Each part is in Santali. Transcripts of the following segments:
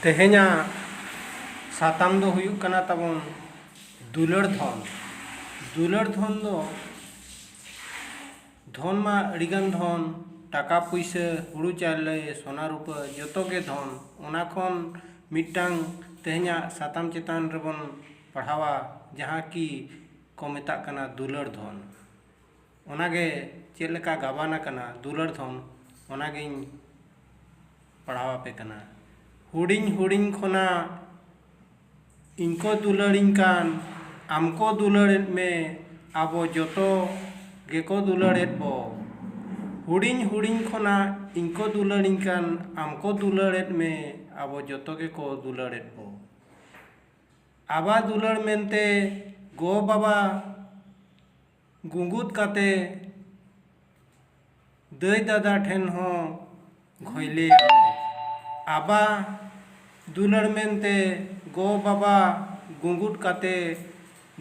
ᱛᱮᱦᱮᱧᱟᱜ ᱥᱟᱛᱟᱢ ᱫᱚ ᱦᱩᱭᱩᱜ ᱠᱟᱱᱟ ᱛᱟᱵᱚᱱ ᱫᱩᱞᱟᱹᱲ ᱫᱷᱚᱱ ᱫᱩᱞᱟᱹᱲ ᱫᱷᱚᱱ ᱫᱚ ᱫᱷᱚᱱ ᱢᱟ ᱟᱹᱰᱤᱜᱟᱱ ᱫᱷᱚᱱ ᱴᱟᱠᱟ ᱯᱩᱭᱥᱟᱹ ᱦᱩᱲᱩ ᱪᱟᱣᱞᱮ ᱥᱚᱱᱟ ᱨᱩᱯᱟᱹ ᱡᱚᱛᱚ ᱜᱮ ᱫᱷᱚᱱ ᱚᱱᱟ ᱠᱷᱚᱱ ᱢᱤᱫᱴᱟᱝ ᱛᱮᱦᱮᱧᱟᱜ ᱥᱟᱛᱟᱢ ᱪᱮᱛᱟᱱ ᱨᱮᱵᱚᱱ ᱯᱟᱲᱦᱟᱣᱟ ᱡᱟᱦᱟᱸ ᱠᱤ ᱠᱚ ᱢᱮᱛᱟᱜ ᱠᱟᱱᱟ ᱫᱩᱞᱟᱹᱲ ᱫᱷᱚᱱ ᱚᱱᱟᱜᱮ ᱪᱮᱫ ᱞᱮᱠᱟ ᱜᱟᱵᱟᱱ ᱟᱠᱟᱱᱟ ᱫᱩᱞᱟᱹᱲ ᱫᱷᱚᱱ ᱚᱱᱟᱜᱤᱧ ᱯᱟᱲᱦᱟᱣ ᱟᱯᱮ ᱠᱟᱱᱟ ᱦᱩᱰᱤᱧ ᱦᱩᱰᱤᱧ ᱠᱷᱚᱱᱟᱜ ᱤᱧ ᱠᱚ ᱫᱩᱞᱟᱹᱲᱤᱧ ᱠᱟᱱ ᱟᱢ ᱠᱚ ᱫᱩᱞᱟᱹᱲᱮᱫ ᱢᱮ ᱟᱵᱚ ᱡᱚᱛᱚ ᱜᱮᱠᱚ ᱫᱩᱞᱟᱹᱲᱮᱫ ᱵᱚ ᱦᱩᱰᱤᱧ ᱦᱩᱰᱤᱧ ᱠᱷᱚᱱᱟᱜ ᱤᱧ ᱠᱚ ᱫᱩᱞᱟᱹᱲᱤᱧ ᱠᱟᱱ ᱟᱢ ᱠᱚ ᱫᱩᱞᱟᱹᱲᱮᱫ ᱢᱮ ᱟᱵᱚ ᱡᱚᱛᱚ ᱜᱮᱠᱚ ᱫᱩᱞᱟᱹᱲᱮᱫ ᱵᱚ ᱟᱵᱟᱨ ᱫᱩᱞᱟᱹᱲ ᱢᱮᱱᱛᱮ ᱜᱚᱼᱵᱟᱵᱟ ᱜᱩᱸᱜᱩᱫ ᱠᱟᱛᱮ ᱫᱟᱹᱭ ᱫᱟᱫᱟ ᱴᱷᱮᱱ ᱦᱚᱸ ᱜᱷᱚᱭᱞᱮᱭᱟᱜ ᱢᱮ᱾ ᱟᱵᱟ ᱫᱩᱞᱟᱹᱲ ᱢᱮᱱᱛᱮ ᱜᱚ ᱵᱟᱵᱟ ᱜᱩᱸᱜᱩᱫ ᱠᱟᱛᱮ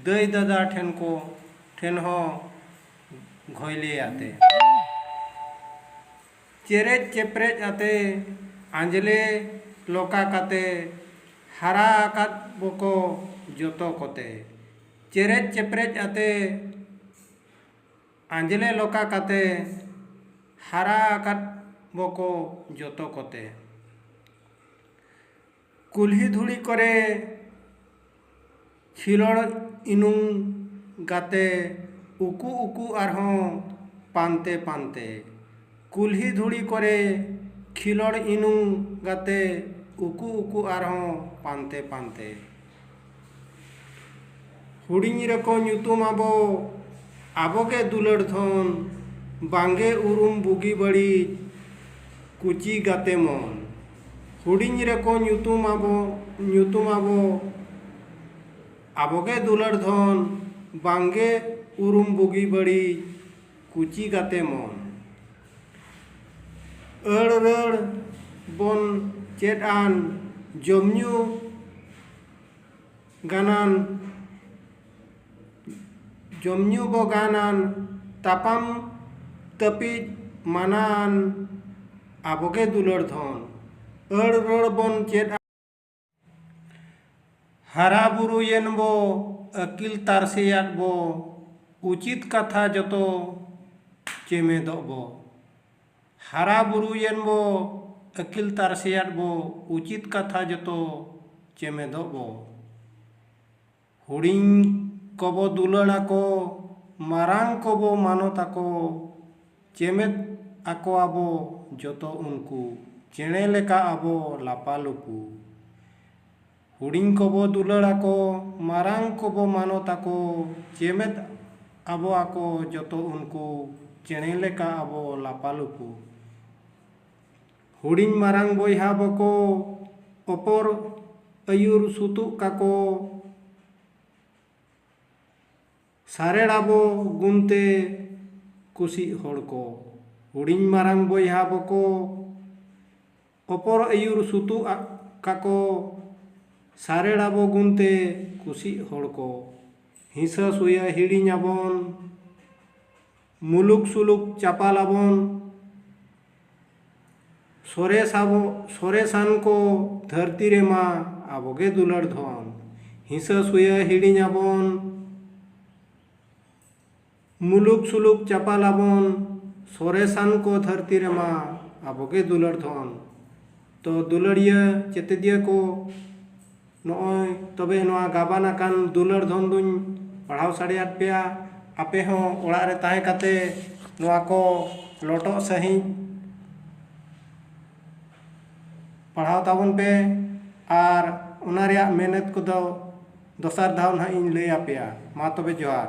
ᱫᱟᱹᱭ ᱫᱟᱫᱟ ᱴᱷᱮᱱ ᱠᱚ ᱴᱷᱮᱱ ᱦᱚᱸ ᱜᱷᱚᱭᱞᱮᱭᱟᱜ ᱛᱮ᱾ ᱪᱮᱨᱮᱡ ᱪᱮᱯᱨᱮᱡ ᱟᱛᱮ ᱟᱸᱡᱽᱞᱮ ᱞᱚᱠᱟ ᱠᱟᱛᱮ ᱦᱟᱨᱟ ᱟᱠᱟᱫ ᱵᱚᱠᱚ ᱡᱚᱛᱚ ᱠᱚᱛᱮ᱾ ᱪᱮᱨᱮᱡ ᱪᱮᱯᱨᱮᱡ ᱟᱛᱮ ᱟᱸᱡᱽᱞᱮ ᱞᱚᱠᱟ ᱠᱟᱛᱮ ᱦᱟᱨᱟ ᱟᱠᱟᱫ ᱵᱚᱠᱚ ᱡᱚᱛᱚ ᱠᱚᱛᱮ ᱠᱩᱞᱦᱤ ᱫᱷᱩᱲᱤ ᱠᱚᱨᱮ ᱠᱷᱤᱞᱚᱲ ᱤᱱᱩᱝ ᱜᱟᱛᱮ ᱩᱠᱩ ᱩᱠᱩ ᱟᱨᱦᱚᱸ ᱯᱟᱱᱛᱮ ᱯᱟᱱᱛᱮ ᱠᱩᱞᱦᱤ ᱫᱷᱩᱲᱤ ᱠᱚᱨᱮ ᱠᱷᱤᱞᱚᱲ ᱤᱱᱩ ᱜᱟᱛᱮ ᱩᱠᱩ ᱩᱠᱩ ᱟᱨᱦᱚᱸ ᱯᱟᱱᱛᱮ ᱯᱟᱱᱛᱮ᱾ ᱦᱩᱰᱤᱧ ᱨᱮᱠᱚ ᱧᱩᱛᱩᱢ ᱟᱵᱚ ᱟᱵᱚᱜᱮ ᱫᱩᱞᱟᱹᱲ ᱫᱷᱚᱱ ᱵᱟᱝᱜᱮ ᱩᱨᱩᱢ ᱵᱩᱜᱤ ᱵᱟᱹᱲᱤᱡ ᱠᱩᱪᱤ ᱜᱟᱛᱮ ᱢᱚᱱ᱾ ᱦᱩᱰᱤᱧ ᱨᱮᱠᱚ ᱧᱩᱛᱩᱢ ᱟᱵᱚ ᱧᱩᱛᱩᱢ ᱟᱵᱚ ᱟᱵᱚᱜᱮ ᱫᱩᱞᱟᱹᱲ ᱫᱷᱚᱱ ᱵᱟᱝᱜᱮ ᱩᱨᱩᱢ ᱵᱩᱜᱤ ᱵᱟᱹᱲᱤᱡ ᱠᱩᱪᱤ ᱜᱟᱛᱮ ᱢᱚᱱ᱾ ᱟᱹᱲ ᱨᱟᱹᱲ ᱵᱚᱱ ᱪᱮᱫ ᱟᱱ ᱡᱚᱢ ᱧᱩ ᱜᱟᱱᱟᱱ ᱡᱚᱢ ᱧᱩ ᱵᱚ ᱜᱟᱱ ᱟᱱ ᱛᱟᱯᱟᱢ ᱛᱟᱹᱯᱤᱡ ᱢᱟᱱᱟ ᱟᱱ ᱟᱵᱚ ᱜᱮ ᱫᱩᱞᱟᱹᱲ ᱫᱷᱚᱱ᱾ ᱟᱹᱲ ᱨᱟᱹᱲ ᱵᱚᱱ ᱪᱮᱫ ᱟᱱ᱾ ᱦᱟᱨᱟ ᱵᱩᱨᱩᱭᱮᱱ ᱵᱚ ᱟᱹᱠᱤᱞ ᱛᱟᱨᱥᱮᱭᱟᱫ ᱵᱚ ᱩᱪᱤᱛ ᱠᱟᱛᱷᱟ ᱡᱚᱛᱚ ᱪᱮᱢᱮᱫᱚᱜ ᱵᱚ ᱦᱟᱨᱟ ᱵᱩᱨᱩᱭᱮᱱ ᱵᱚ ᱟᱹᱠᱤᱞ ᱛᱟᱨᱥᱮᱭᱟᱫ ᱵᱚ ᱩᱪᱤᱛ ᱠᱟᱛᱷᱟ ᱡᱚᱛᱚ ᱪᱮᱢᱮᱫᱚᱜ ᱵᱚ ᱦᱩᱰᱤᱧ ᱠᱚᱵᱚ ᱫᱩᱞᱟᱹᱲ ᱟᱠᱚ, ᱢᱟᱨᱟᱝ ᱠᱚᱵᱚ ᱢᱟᱱᱚᱛ ᱟᱠᱚ, ᱪᱮᱢᱮᱫ ᱟᱠᱚᱣᱟᱵᱚ ᱡᱚᱛᱚ ᱩᱱᱠᱩ, ᱪᱮᱬᱮ ᱞᱮᱠᱟ ᱟᱵᱚ ᱞᱟᱯᱟᱞᱩᱯᱩ᱾ ᱦᱩᱰᱤᱧ ᱠᱚᱵᱚ ᱫᱩᱞᱟᱹᱲ ᱟᱠᱚ, ᱢᱟᱨᱟᱝ ᱠᱚᱵᱚ ᱢᱟᱱᱚᱛ ᱟᱠᱚ, ᱪᱮᱢᱮᱫ ᱟᱵᱚ ᱟᱠᱚ ᱡᱚᱛᱚ ᱩᱱᱠᱩ, ᱪᱮᱬᱮ ᱞᱮᱠᱟ ᱟᱵᱚ ᱞᱟᱯᱟᱞᱩᱯᱩ᱾ ᱦᱩᱰᱤᱧ ᱢᱟᱨᱟᱝ ᱵᱚᱭᱦᱟ ᱵᱚᱠᱚ ᱚᱯᱚᱨ ᱟᱹᱭᱩᱨ ᱥᱩᱛᱩᱜ ᱠᱟᱠᱚ ᱥᱟᱨᱮᱲ ᱟᱵᱚ ᱜᱩᱱ ᱛᱮ ᱠᱩᱥᱤᱜ ᱦᱚᱲ ᱠᱚ ᱦᱩᱰᱤᱧ ᱢᱟᱨᱟᱝ ᱵᱚᱭᱦᱟ ᱵᱚᱠᱚ ᱚᱯᱚᱨ ᱟᱹᱭᱩᱨ ᱥᱩᱛᱩᱜ ᱠᱟᱠᱚ ᱥᱟᱨᱮᱲ ᱟᱵᱚ ᱜᱩᱱ ᱛᱮ ᱠᱩᱥᱤᱜ ᱦᱚᱲ ᱠᱚ ᱦᱤᱥᱟᱹ ᱥᱩᱭᱟᱹ ᱦᱤᱲᱤᱧ ᱟᱵᱚᱱ ᱢᱩᱞᱩᱠ ᱥᱩᱞᱩᱠ ᱪᱟᱯᱟᱞ ᱟᱵᱚᱱ᱾ ᱥᱚᱨᱮᱥ ᱟᱵᱚ ᱥᱚᱨᱮᱥᱟᱱ ᱠᱚ ᱫᱷᱟᱹᱨᱛᱤ ᱨᱮ ᱢᱟ ᱟᱵᱚ ᱜᱮ ᱫᱩᱞᱟᱹᱲ ᱫᱷᱚᱱ᱾ ᱦᱤᱸᱥᱟᱹ ᱥᱩᱭᱟᱹ ᱦᱤᱲᱤᱧ ᱟᱵᱚᱱ᱾ ᱢᱩᱞᱩᱠ ᱥᱩᱞᱩᱠ ᱪᱟᱯᱟᱞ ᱟᱵᱚᱱ᱾ ᱥᱚᱨᱮᱥᱟᱱ ᱠᱚ ᱫᱷᱟᱹᱨᱛᱤ ᱨᱮ ᱢᱟ ᱟᱵᱚ ᱜᱮ ᱫᱩᱞᱟᱹᱲ ᱫᱷᱚᱱ᱾ ᱛᱚ ᱫᱩᱞᱟᱹᱲᱤᱭᱟᱹ ᱪᱮᱛᱮᱫᱤᱭᱟᱹ ᱠᱚ ᱱᱚᱜᱼᱚᱭ ᱛᱚᱵᱮ ᱱᱚᱣᱟ ᱜᱟᱵᱟᱱ ᱟᱠᱟᱱ ᱫᱩᱞᱟᱹᱲ ᱫᱷᱚᱱ ᱫᱩᱧ ᱯᱟᱲᱦᱟᱣ ᱥᱟᱰᱮᱭᱟᱫ ᱯᱮᱭᱟ ᱟᱯᱮ ᱦᱚᱸ ᱚᱲᱟᱜ ᱨᱮ ᱛᱟᱦᱮᱸ ᱠᱟᱛᱮ ᱱᱚᱣᱟ ᱠᱚ ᱞᱚᱴᱚᱜ ᱥᱟᱺᱦᱤᱡ ᱯᱟᱲᱦᱟᱣ ᱛᱟᱵᱚᱱ ᱯᱮ ᱟᱨ ᱚᱱᱟ ᱨᱮᱭᱟᱜ ᱢᱮᱱᱮᱛ ᱠᱚᱫᱚ ᱫᱚᱥᱟᱨ ᱫᱷᱟᱣ ᱱᱟᱦᱟᱜ ᱤᱧ ᱞᱟᱹᱭ ᱟᱯᱮᱭᱟ ᱢᱟ ᱛᱚᱵᱮ ᱡᱚᱦᱟᱨ